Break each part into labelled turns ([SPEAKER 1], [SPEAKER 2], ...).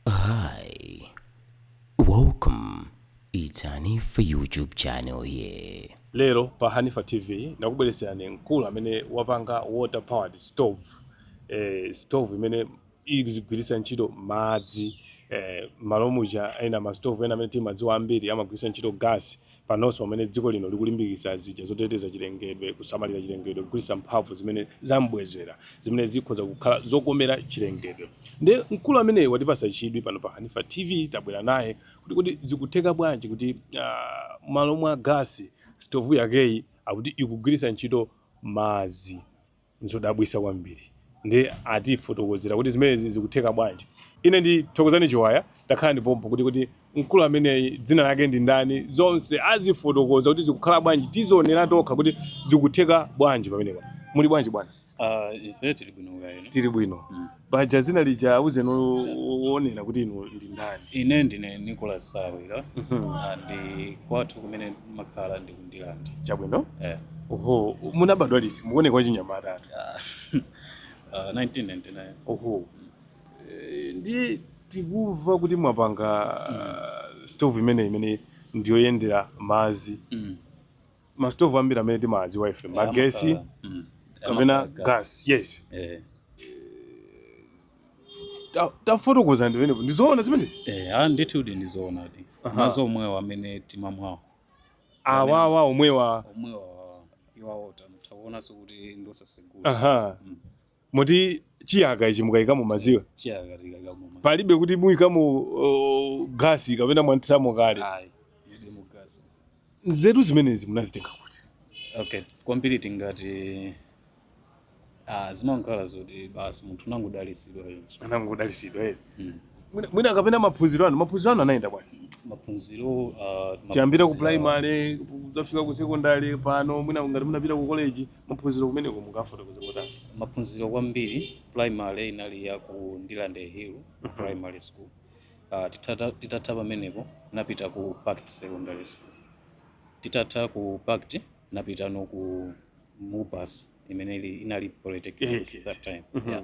[SPEAKER 1] Hi, welcome. It's Hanifa YouTube channel here. Lero pa Hanifa
[SPEAKER 2] TV ndakubweretserani mkulu amene wapanga water powered stove eh, stove imene izigwiritsa ntchito madzi eh, mmalo muja ena ma stove ena amene timadziwa ambiri amagwiritsa ntchito gas Panonso pamene dziko lino likulimbikitsa zija zoteteza chilengedwe, kusamalira chilengedwe, kugwiritsa mphamvu zimene zam'bwezera zimene zikhoza kukhala zokomera chilengedwe. Nde mkulu ameneyu watipatsa chidwi pano pa Hanifa TV tabwera naye kuti kodi zikutheka bwanji kuti mmalo mwa gasi sitovu yakeyi akuti ikugwiritsa ntchito madzi. Nzodabwisa kwambiri nde atifotokozera kuti zimenezi zikutheka bwanji. Ine ndi Thokozani Chiwaya takhalani pompo kuti kodi mkulu ameneyi dzina lake ndi ndani zonse azifotokoza kuti zikukhala bwanji tizionera tokha kuti zikutheka bwanji pamenepa. Muli bwanji bwana? Aaa ife tili
[SPEAKER 3] bwino kaya inu? Tili bwino.
[SPEAKER 2] paja dzina lija auzeni o- o- oonera kuti inu ndi ndani ine ndine
[SPEAKER 3] Nicholas Salawira Mhm. Ah, ndi kwathu kumene ndimakhala ndi ku Ndirande chabwino eh.
[SPEAKER 2] oho
[SPEAKER 3] munabadwa liti
[SPEAKER 2] mukuoneka wachinyamata Ah,
[SPEAKER 3] ah, 1999 oho
[SPEAKER 2] Eh, ndiye tikumva kuti mwapanga stove imene imene ndiyoyendera madzi Mm. masitovu ambiri amene timawadziwa ife Eh, magesi amakhala- mm, kapena amakhala gas yes Eh, Ta- tafotokozani pamenepo ndizoona zimenezi eh, ah, ndithu
[SPEAKER 3] kuti ndizoonadi Aha. madzi omwewa amene timamwawo
[SPEAKER 2] awawa omwewa omwewa
[SPEAKER 3] iwawo takuonanso kuti ndosasegula aha Mm.
[SPEAKER 2] Moti chiyaka ichi mukayikamo madziwa? Chiyaka tikayikamo
[SPEAKER 3] madziwa. Palibe kuti
[SPEAKER 2] muyikamo uh, gasi kapena mwanthiramo kale? Ayi, mulibemo
[SPEAKER 3] gasi. Nzeru
[SPEAKER 2] zimenezi munazitenga kuti? Okay,
[SPEAKER 3] kwambiri tingati ah, zimakhala zoti basi munthu unangodalitsidwa yonse. Munangodalitsidwa eti.
[SPEAKER 2] Eh. Mm. Mwina kapena maphunziro anu, maphunziro anu anayenda bwanji? Maphunziro
[SPEAKER 3] uh, tiyambira
[SPEAKER 2] ku primary, kudzafika ku secondary pano, mwina ngati munapita ku college, Maphunziro kumeneko mungafotokoze motani? Maphunziro
[SPEAKER 3] kwambiri primary inali ya ku Ndirande Hill mm -hmm. primary school uh, titata, titatha pamenepo napita ku Pact secondary school titatha ku Pact napitano ku Mubas imene inali polytechnic yes, yes. that time mm -hmm. yeah.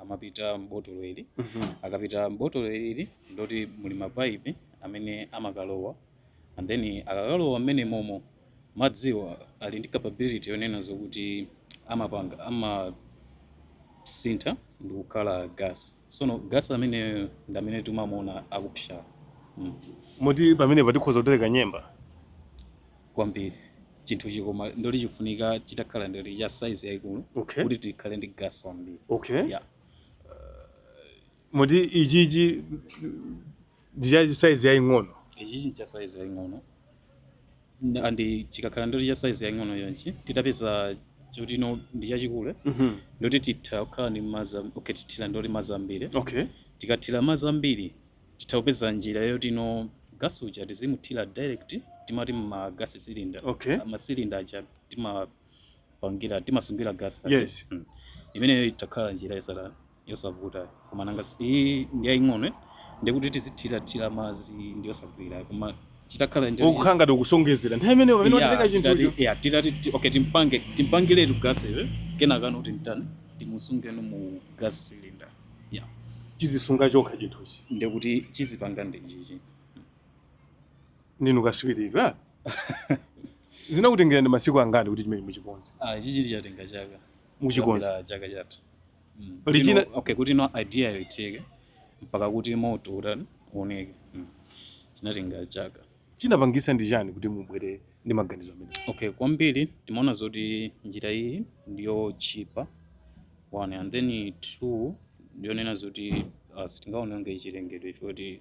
[SPEAKER 3] amapita m'botolo ili akapita m'botolo ili ndoti muli mapaipi amene amakalowa and then akakalowa m'menemomo madziwa ali ndi capability yonena zokuti amapanga amasintha ndi kukhala gas sono gas ameneyo ndi amene timamuona akupsa mm.
[SPEAKER 2] moti pamenepa tikhoza kutereka nyemba
[SPEAKER 3] kwambiri chinthuchi koma ndoti chikufunika chitakhala ndoti cha size yayikulu okay. kuti tikhale ndi gas wambiri okay.
[SPEAKER 2] yeah. moti ichichi ndichachi size yaing'ono ichichi cha size
[SPEAKER 3] yaing'ono andi chikakhala ndoti cha size yaing'ono chonchi titapeza choti no ndi chachikule mm -hmm. ndoti titha kukhala ndi madzi okay, tithira ndoti madzi ambiri okay. tikathira madzi ambiri titha kupeza njira yoti you know, gas uja tizimuthira direct timati mma gas cylinder okay. ma cylinder aja timapangira timasungira gas aja yes. mm.
[SPEAKER 2] imeneyo
[SPEAKER 3] itakhala njira yosala yosavuta koma nanga si- iyi ndi yaying'ono eh? ndikuti tizithirathira madzi ndi yosagwira koma chitakhala ndi- ukukhala ngati
[SPEAKER 2] ukuonjezera nthawi imeneyo pamene Yeah, watenga chinthucho titati- yeah, titati ti- okay
[SPEAKER 3] timpange timpangiretu gas uja kenakano tintani timusungeno mu gas cylinder yeah. chizisunga
[SPEAKER 2] chokha chinthuchi ndekuti
[SPEAKER 3] chizipanga ndi
[SPEAKER 2] chichi ndinu katswiri zinakutengerani masiku angati kuti chimene muchikonze ah, ichichi
[SPEAKER 3] chatenga chaka muchikonze Kuyambira
[SPEAKER 2] chaka
[SPEAKER 3] chatha Mm. Pali Kuti
[SPEAKER 2] china- no- okay kuti no idea
[SPEAKER 3] yo itheke mpaka kuti moto utani uoneke Mm. chinatenga chaka Chinapangisa
[SPEAKER 2] ndi chani kuti mubwere ndi maganizo amenewo? Okay, kwambiri
[SPEAKER 3] timaona zoti njira iyi ndiyotchipa one and then two ndiyonena zoti uh, sitingaononge chilengedwe chifukwa choti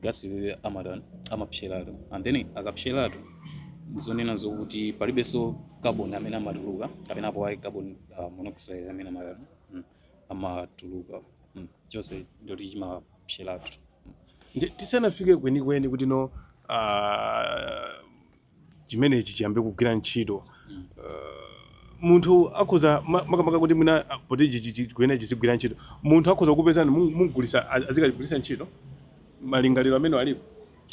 [SPEAKER 3] gasi iyeyo amata amapseratu and then akapseratu ndi zonena zokuti palibenso carbon amene amatuluka kapena apo ayi carbon uh, monoxide amene amatatu mm. amatuluka mm. chonse ndoti chimapseratu
[SPEAKER 2] Ndi- tisanafike kwenikweni kuti no ah, chimenechi chiyambe kugwira ntchito Mm. Ah, munthu akhoza ma- makamaka kuti mwina ah, poti chi- chi- chi- kuyenera chizigwira ntchito munthu akhoza kukupezani mugulisa azikagwirisa ntchito malingaliro amene alipo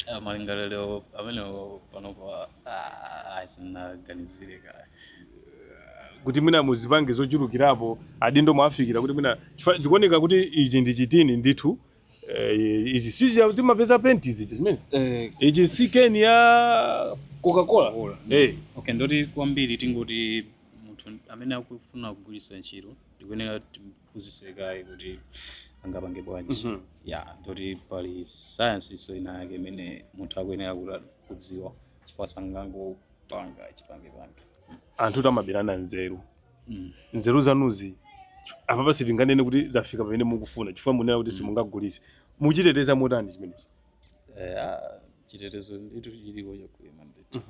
[SPEAKER 2] Ah,
[SPEAKER 3] malingaliro amenewo panopo ah, ah, ah, sindinaganizire
[SPEAKER 2] kaye kuti mwina muzipange zochulukirapo adindo mwawafikira kuti mwina chifukwa zikuoneka kuti ichi ndi chitini ndithu eh, ichi si chija timapeza penti izi chimene eh, ichi si keni ya coca-cola Cola. eh okay ndoti
[SPEAKER 3] kwambiri tingoti munthu amene akufuna kugwiritsa ntchito tikuyenera tim- phunzise kaye kuti angapange bwanji Mhm. ya ndoti pali sayansinso ina yake imene munthu akuyenera kuti kudziwa chifukwa sangangopanga chipangepange
[SPEAKER 2] anthu timaberana nzeru Mm. nzeru zanuzi apapa sitinganene kuti zafika pamene mukufuna chifukwa munena kuti simungagulise muchiteteza motani chimenechi Eh, ah,
[SPEAKER 3] chitetezo nditu chilipo chokwana nditu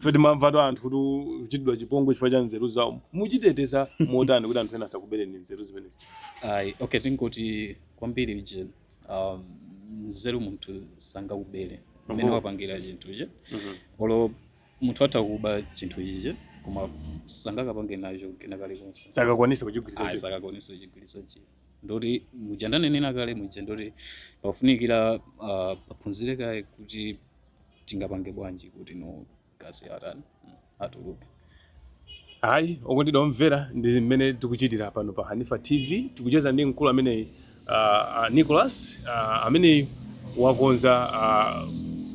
[SPEAKER 3] ife
[SPEAKER 2] timamvatu anthu kuti kuchitidwa chipongwe chifukwa cha nzeru zawo muchiteteza motani kuti anthu ena asakubereni nzeru zimenezi ayi okay
[SPEAKER 3] tingoti kwambiri uje um, nzeru munthu sangakubere mmene Mhm. wapangira chinthu ichi olo munthu atakuba chinthu ichi koma sangakapange nacho kena kalikonse sakakwanisa kuchigwiritsa ayi
[SPEAKER 2] ntchito. sakakwanisa kuchigwiritsa
[SPEAKER 3] ntchito ndoti muja ndanena kale muja ndoti pafunikira uh, paphunzire kaye kuti tingapange bwanji kuti no gasi atani mm, atuluke
[SPEAKER 2] ayi okondedwa omvera ndi mmene tikuchitira pano pa hanifa tv tikucheza ndi mkulu amene uh, uh, nicholas uh, amene wakonza uh,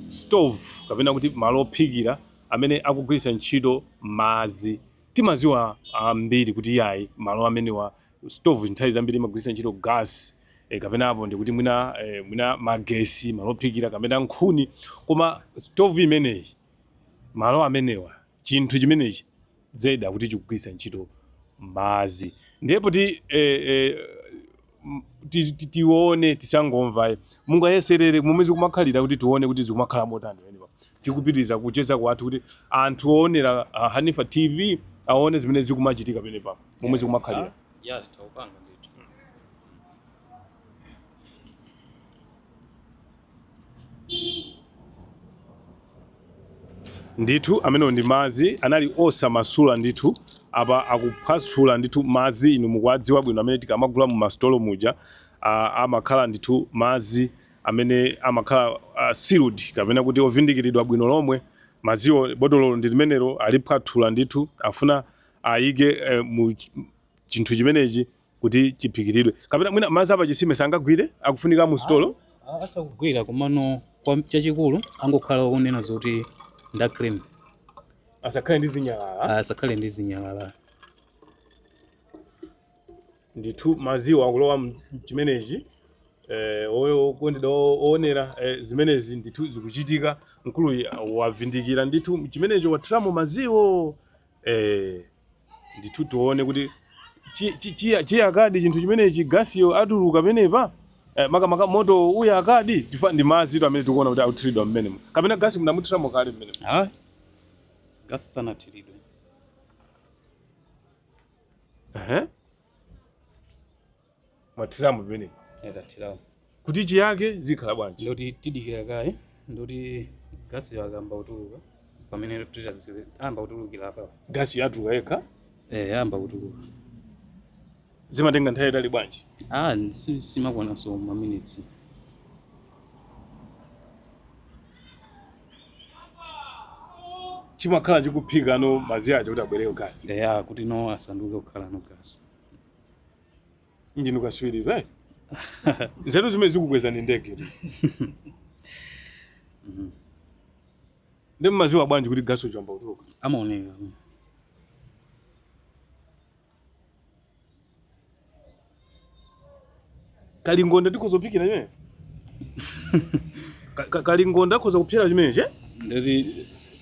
[SPEAKER 2] stove kapena kuti malo ophikira amene akugwiritsa ntchito madzi timaziwa ambiri kuti yayi malo amenewa stove nthawi zambiri imagwiritsa ntchito gas e, kapena apo ndekuti mwina e, mwina magesi malo ophikira kapena nkhuni koma stove imeneyi malo amenewa chinthu chimenechi zedi akuti chikugwiritsa ntchito madzi ndipo e, e, m- ti- ti- tione tisangomva mungayeserere mmene zikumakhalira kuti tione kuti zikumakhala motani eniwa Tikupitiriza kucheza kwathu kuti anthu oonera ah, Hanifa TV aone zimene zikumachitika penepa momwe zikumakhalira. ya
[SPEAKER 3] tawupanga ndithu
[SPEAKER 2] ndithu amenewo ndi madzi anali osamasula ndithu apa akuphwasula ndithu madzi inu mukuwadziwa bwino amene tikamagula mu masitolo muja ah, amakhala ndithu madzi amene amakhala a sealed kapena kuti ovindikiridwa bwino lomwe madziwo botololo ndi limenelo aliphwathula ndithu afuna ayike eh, mu ch- chinthu chimenechi kuti chiphikiridwe kapena mwina madzi apachisime sangagwire akufunika mu sitolo atha
[SPEAKER 3] kugwira komano chachikulu angokhala kunena zoti ndi a clean asakhale
[SPEAKER 2] ndi zinyalala asakhale ndi zinyalala Ndithu madziwo akulowa mchimenechi eh, okondedwa owonera eh, zimenezi ndithu zikuchitika mkuluyi wavindikira ndithu mchimenecho wathiramo madziwo eh, ndithu tione kuti chiyakadi chinthu chimenechi gasiyo atuluka penepa eh, makamaka moto uyakadi tifa ndi madzitu amene tikuona kuti akuthiridwa mmenemo kapena gasi munamuthiramo kale mmenemo
[SPEAKER 3] gasi sanathiridwe
[SPEAKER 2] Ehe. Mwathiramo pamene. Eya
[SPEAKER 3] tathiramo. Kuti
[SPEAKER 2] chiyake zikhala bwanji? Ndoti tidikira kaye
[SPEAKER 3] ndoti gasi yake ayamba kutuluka pamene titaziwe ayamba kutulukira apa. Gasiyo atuluka
[SPEAKER 2] yekha. Eh ayamba kutuluka. Zimatenga nthawi itali bwanji? Ah si simakwana
[SPEAKER 3] so ma minutes.
[SPEAKER 2] chimakhala chikuphika no madzi aja kuti abwereko gasi eya kuti no asanduke
[SPEAKER 3] kukhala no gasi ndinu
[SPEAKER 2] kaswiri eti nzeru zimene zikukwezani ndege Mhm. ndi mmaziwa bwanji kuti gasi uja wayamba kutuluka amaoneka kalingonda ndikhoza kuphikira chimene Ka- ka- kalingonda akhoza kuphikira chimenechi ngati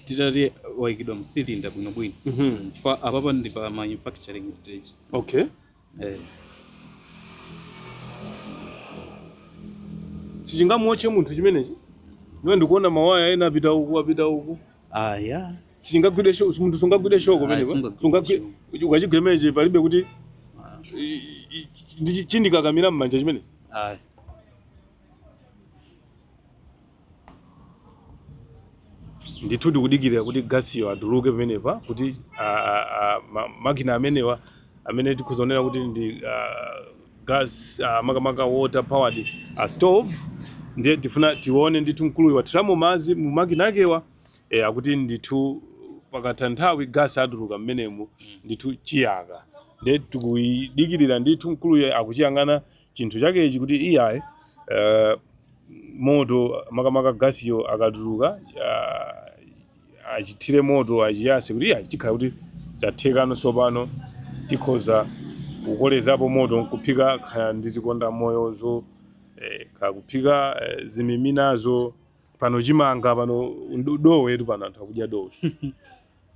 [SPEAKER 3] titati chaikidwa msilinda bwinobwino chifukwa apapa ndi pa manufacturing stage
[SPEAKER 2] okay eh. sichingamuotche munthu chimenechi ndiwe ndikuona mawaya ena apita uku apita uku aya Sichingagwidwe sho- munthu sungagwidwe shoko Ayi, pamenepo. sungagwidwe Sungagwidwe shoko. ukachigwira chimenechi palibe kuti Ah, i- i- ndi- chindikakamira m'manja chimene. ayi. Ndithu tikudikira kuti gasiyo atuluke pamenepa kuti a- a- a- ma- makina amenewa amene tikuwonera kuti ndi ah, gas ah, makamaka water powered a stove ndiye tifuna tione ndithu mkuluyu wathiramo madzi mu makina akewa e, akuti ndithu pakatha nthawi gas atuluka mmenemu ndithu chiyaka nde tikuyidikirira ndithu mkuluyu akuchiyang'ana chinthu chakechi kuti iyayi eh, moto makamaka gasiyo akatuluka ah, achithire moto achiyase kuti iyayi chikhala kuti chathekano tsopano tikhoza kukolezapo moto nkuphika kaya ndi zikondamoyozo eh, kaya kuphika eh, zimiminazo pano chimanga pano do- dowetu pano anthu akudya dowe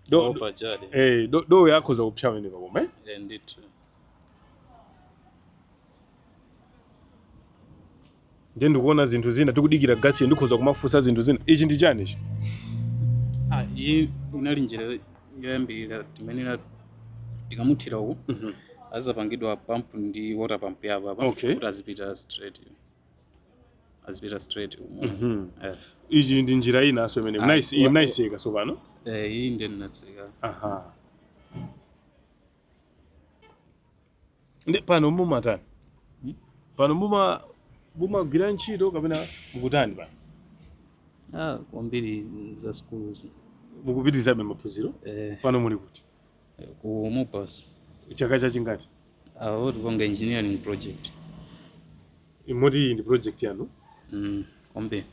[SPEAKER 2] Do- do- ophwanyidwa eh, do- dowe akhoza kupsa pamenepa koma eh? Eh, ndithu ndiye ndikuona zinthu zina tikudikira gasi ndikhoza kumafunsa zinthu zina ichi ndi chani ichi
[SPEAKER 3] Ah, iyi inali njira yoyambirira timene tikamuthira uku Mhm. azapangidwa pampu ndi water pump ya apapa Okay. kuti azipita straight azipita straight umo Mhm.
[SPEAKER 2] Eh. ichi ndi njira inanso imene Ah, mnayisi- wa- mnayiseka tsopano Eh, iyi ndiye
[SPEAKER 3] ndinatseka aha
[SPEAKER 2] ndi pano mumatani Hmm? pano muma mumagwira ntchito kapena mukutani pano ah, kwambiri
[SPEAKER 3] za schools mukupitirizabe
[SPEAKER 2] maphunziro eh, pano muli kuti
[SPEAKER 3] ku Mubas. chaka
[SPEAKER 2] chachingati Ah
[SPEAKER 3] tikupanga engineering project.
[SPEAKER 2] moti iyi ndi project yanu Mm, kwambiri.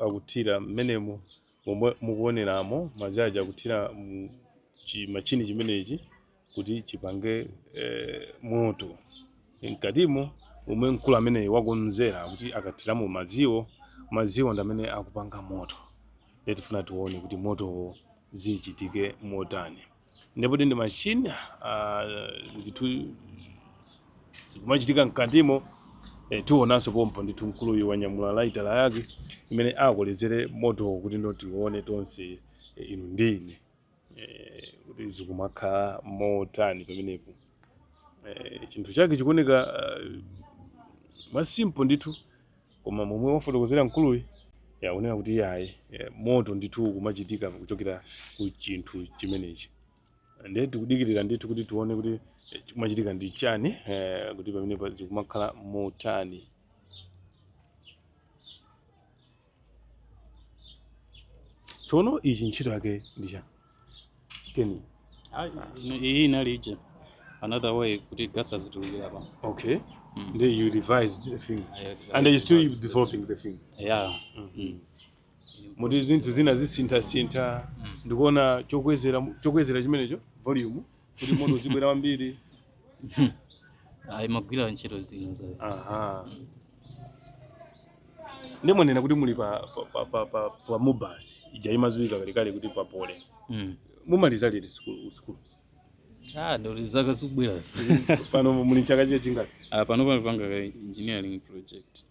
[SPEAKER 2] akuthira mmenemo momwe mukuoneramo madzi aja akuthira mu chi- chimachini chimenechi kuti chipange eh, moto mkatimo umwe mkulu ameneyi wakonzera kuti akathiramo madziwo madziwo ndi amene akupanga moto ndiye tifuna tione kuti motowo zichitike motani ndipo ndi machini ah, ndithu zikumachitika mkatimo eh, tionanso pompo ndithu mkuluyu wanyamula laitala yake imene akolezere motowo kuti tione tonse eh, inu ndine kuti zikumakhala motani pamenepo Eh, chinthu chake chikuoneka eh, mwasimpo ndithu koma momwe wafotokozera mkuluyu zaoneka kuti yayi eh, moto ndithu ukumachitika kuchokera ku chinthu chimenechi ndiye tikudikirira ndithu kuti tione kuti eh, chikumachitika ndi chani eh, kuti pamenepo zikumakhala motani tsono ichi ntchito yake ndi chani keni Ah, ino-
[SPEAKER 3] iyi inali ija another way kuti gas azitulukira apa okay
[SPEAKER 2] Mm. then you revised the thing I- I and you still revised the- developing the thing yeah Mm. moti zinthu zina zisinthasintha Mm. ndikuona chokwezera chokwezera chimenecho volume kuti moto uzibwela wambiri ayi
[SPEAKER 3] chimagwira ntchito zina za
[SPEAKER 2] aha ndiye mwanena kuti muli pa pa- pa- pa- pa- pa mubasi ija imadziwika kalekale kuti pa Poly Mm. mumaliza liti sukulu sukulu
[SPEAKER 3] ah ndi zaka zikubwerazi pano muli
[SPEAKER 2] mchaka chiye chingati Ah, pano pano tikupanga
[SPEAKER 3] engineering project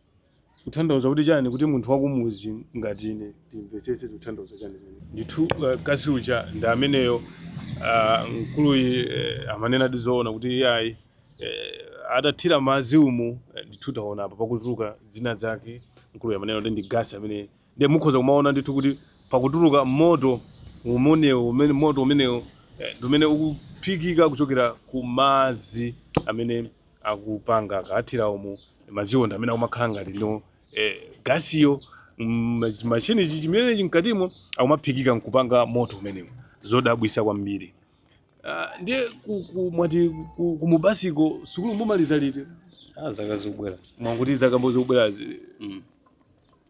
[SPEAKER 2] Kuthandauza kuti chani kuti munthu wakumuzi ngati ine timvesese zikuthandauza chani zimenezo. Ndithu gasi uja ndi ameneyo mkuluyi amanenadi zoona kuti iyayi atathira madzi umu ndithu taona apa pakutuluka dzina lake mkuluyi amanena kuti ndi gas amene Ndiye mukhoza kumaona ndithu kuti pakutuluka moto umenewo, umene moto umenewo eh, ndi umene ukuphikika kuchokera ku madzi amene akupanga akathira umu madziwo ndi amene akumakhala ngati eh, gasiyo mm, chimachini chimenechi mkatimo akumaphikika nkupanga moto umenewo zodabwisa kwambiri Ah, ndiye ku- ku- mwati ku- kumubasiko sukulu mumaliza liti Ah, zaka zikubwera.
[SPEAKER 3] mwakuti zaka
[SPEAKER 2] mmm zikubwerazi Mm.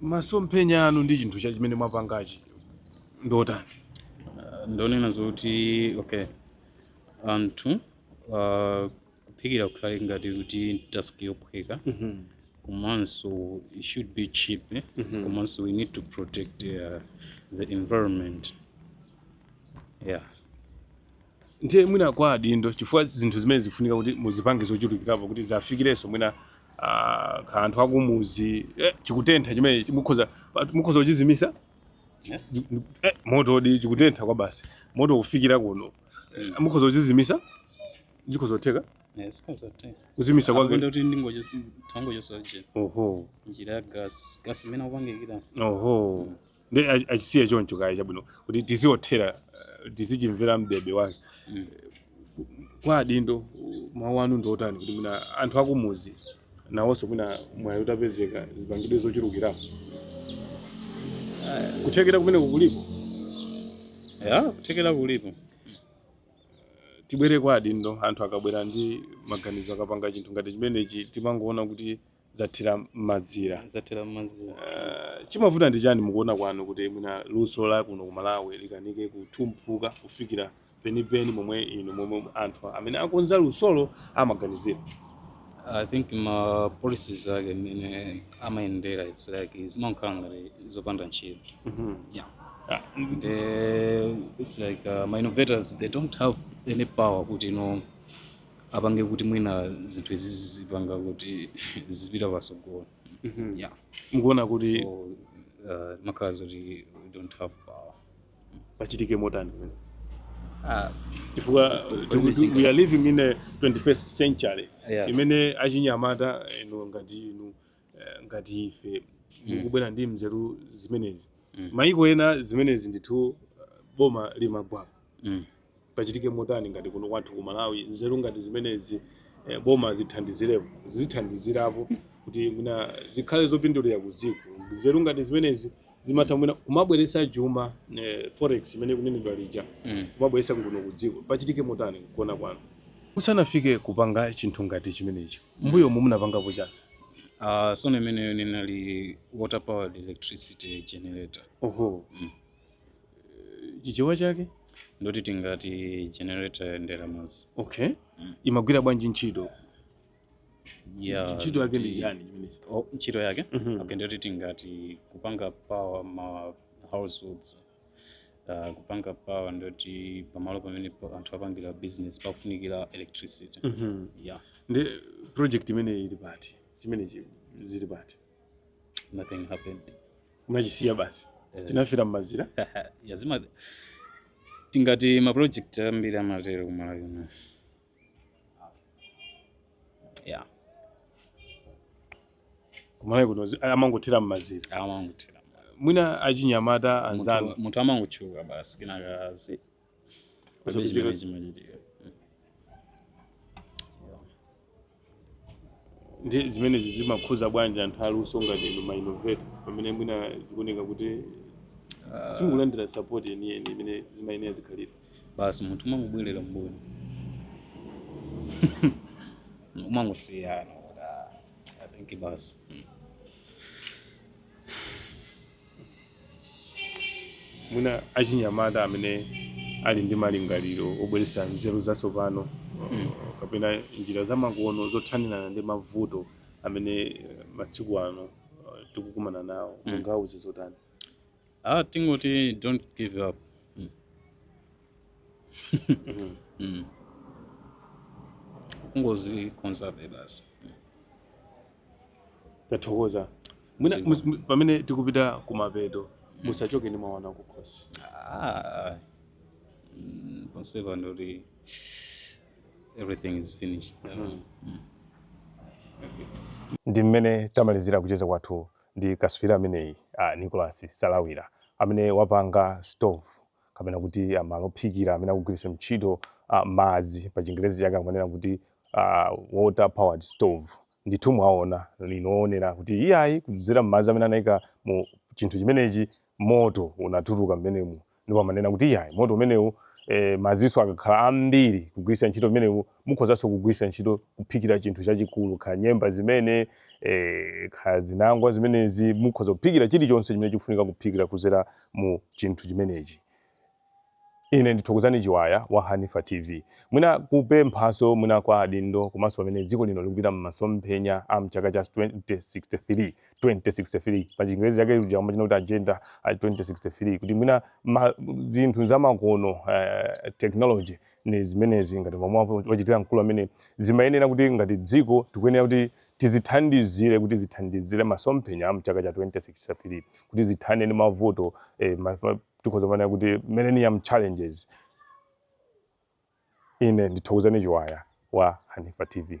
[SPEAKER 2] Masomphenya anu ndi chinthu chimene mwapangachi ndi otani?
[SPEAKER 3] Uh, ndonena zoti okay anthu uh, kuphikira kukhale ngati kuti task yophweka komanso it should be cheap eh? komanso we need to protect uh, the environment yeah
[SPEAKER 2] Ndiye mwina kwa adindo chifukwa zinthu zimene zikufunika kuti muzipange zochulukirapo kuti ziwafikirenso mwina ah, kwa anthu akumuzi eh, chikutentha chimenechi mukhoza pa- mukhoza kuchizimisa Eh? eh, motodi chikutentha kwabasi moto kufikira kuno Eh, mukhoza kuchizimisa chikhoza kutheka Eh, chikhoza kutheka. kuzimisa Apo kwake ndoti
[SPEAKER 3] ndingochis- tangochosa nje oho
[SPEAKER 2] njira ya gas
[SPEAKER 3] gas imene akupangikira oho
[SPEAKER 2] ndi ach- achisiye choncho kaye chabwino kuti tiziothera eh, tizichimvera m'bebe wake Mm. kwa adindo mawu anu ndi otani kuti mwina anthu akumuzi nawonso mwina mwayi utapezeka zipangidwe zochulukirapo kuthekera kumene kukulipo ya
[SPEAKER 3] kuthekera kulipo tibwere
[SPEAKER 2] kwa adindo anthu akabwera ndi maganizo akapanga chinthu ngati chimenechi timangoona kuti zathera m'mazira zathera m'mazira uh, chimavuta ndi chani mukuona kwanu kuti mwina luso la kuno ku malawi likanike kutumphuka kufikira penipeni momwe inu momwe anthu amene akonza lusolo amaganizira
[SPEAKER 3] i think ma policies ake mmene amayendera its like zimakhala ngati zopanda ntchito mm -hmm. yeah. ah, the, it's like uh, ma innovators they don't have any power kuti you know, apange kuti mwina zinthu izi zizipanga kuti zizipita pasogolo yeah mukuona kuti
[SPEAKER 2] so uh,
[SPEAKER 3] zimakhala zoti we don't have power
[SPEAKER 2] pachitike motani mwina ah, chifukwa uh, tiku- think we are living in a 21st century Yeah. imene achinyamata eno ngati inu eh, ngati ife Mm. mukubwera ndi mzeru zimenezi Mm. mayiko ena zimenezi ndithu uh, boma limagwapo Mm. pachitike motani ngati kuno kwathu ku malawi nzeru ngati zimenezi eh, boma zithandizirepo zizithandizirapo kuti mwina zikhale zopindulira ku dziko nzeru ngati zimenezi zimatha mwina kumabweretsa chuma eh, forex imene ikunenedwa ija Mm. kumabweretsa kuno ku dziko pachitike motani kuona kwanu musanafike kupanga chinthu ngati chimenechi mbuyomu munapangapo chani Uh, sono
[SPEAKER 3] imeneyo ninali water powered electricity generator oho Mm.
[SPEAKER 2] Eh, chichewa chake ndoti tingati
[SPEAKER 3] generator yoyendera mazi okay Mm.
[SPEAKER 2] imagwira bwanji ntchito
[SPEAKER 3] Yeah, ntchito yake ndi
[SPEAKER 2] ndi- chani chimenechi Oh, ntchito
[SPEAKER 3] yake Mhm. okay ndiyoti tingati kupanga power ma households uh, kupanga power ndiyoti pamalo pamene pa- anthu apangira business pakufunikira electricity Mhm. yeah
[SPEAKER 2] ndi project imeneyi ili pati chimenechi zili pati
[SPEAKER 3] nothing happened
[SPEAKER 2] unachisiya basi Eh, tinafira mmazira yeah, zima
[SPEAKER 3] tingati ma project ambiri amatero kumalawi kuno yeah
[SPEAKER 2] kumalawi kuno zi- amangothera mmazira amangothera
[SPEAKER 3] mwina
[SPEAKER 2] achinyamata anzanu Munthu- munthu amangotchuka
[SPEAKER 3] basi kinakazi Kuchokera- chimene chimachitika
[SPEAKER 2] Ndi zimenezi zimakhuza bwanji anthu aluso ngati inu ma innovator pamene mwina zikuoneka kuti simukulandira support yeniyeni imene zimayenera zikhalira? basi
[SPEAKER 3] munthu umangobwerera mbuyo umangosiya kuti, ah, I think basi mm.
[SPEAKER 2] mwina achinyamata amene ali ndi malingaliro obweretsa nzeru zatsopano uh, kapena njira zamakono zothanirana ndi mavuto amene eh, matsiku ano uh, tikukumana nawo mungawauze zotani Ah, tingoti
[SPEAKER 3] don't give up. Mm. kungozi conserve
[SPEAKER 2] basi tathokoza mwina Ziko. mus- pamene tikupita kumapeto musachoke ndi mwana kukhosi Ah,
[SPEAKER 3] mm, conserve ndoti everything is finished
[SPEAKER 2] Mm. ndi mmene tamalizira kucheza kwathu ndi katswiri ameneyi a nicholas salawira amene wapanga stove kapena kuti a malo ophikira amene akugwiritsa ntchito a madzi pa chingerezi chake amanena kuti a water powered stove ndithu mwaona inu oonera kuti iyayi kudzera m'madzi amene anaika mu chinthu chimenechi moto unatuluka mmenemu ndipo amanena kuti iyayi moto umenewu eh, madzinso akakhala ambiri kugwiritsa ntchito mmenewu Mukhozanso kugwiritsa ntchito kuphikira chinthu chachikulu, kaya nyemba zimene, kaya zinangwa zimenezi, mukhoza kuphikira chilichonse chimene chikufunika kuphikira kudzera mu chinthu chimenechi. Ine ndi Thokozani Chiwaya wa Hanifa TV. Mwina kupemphanso mwina kwa adindo komanso pamene dziko lino likupita mmasomphenya a mchaka cha 2063. 2063 pa chingerezi chake uja amatchula kuti agenda a 2063 kuti mwina ma, zinthu zamakono uh, technology ngati zimenezi ngati momwe wachitira mkulu amene zimayenera kuti ngati dziko tikuyenera kuti tizithandizire kuti zithandizire masomphenya a mchaka cha 2063 kuti zithane ndi mavuto eh, ma, ma, tikhoza kumanena kuti millennium challenges ine ndi thokozani chiwaya wa hanifa tv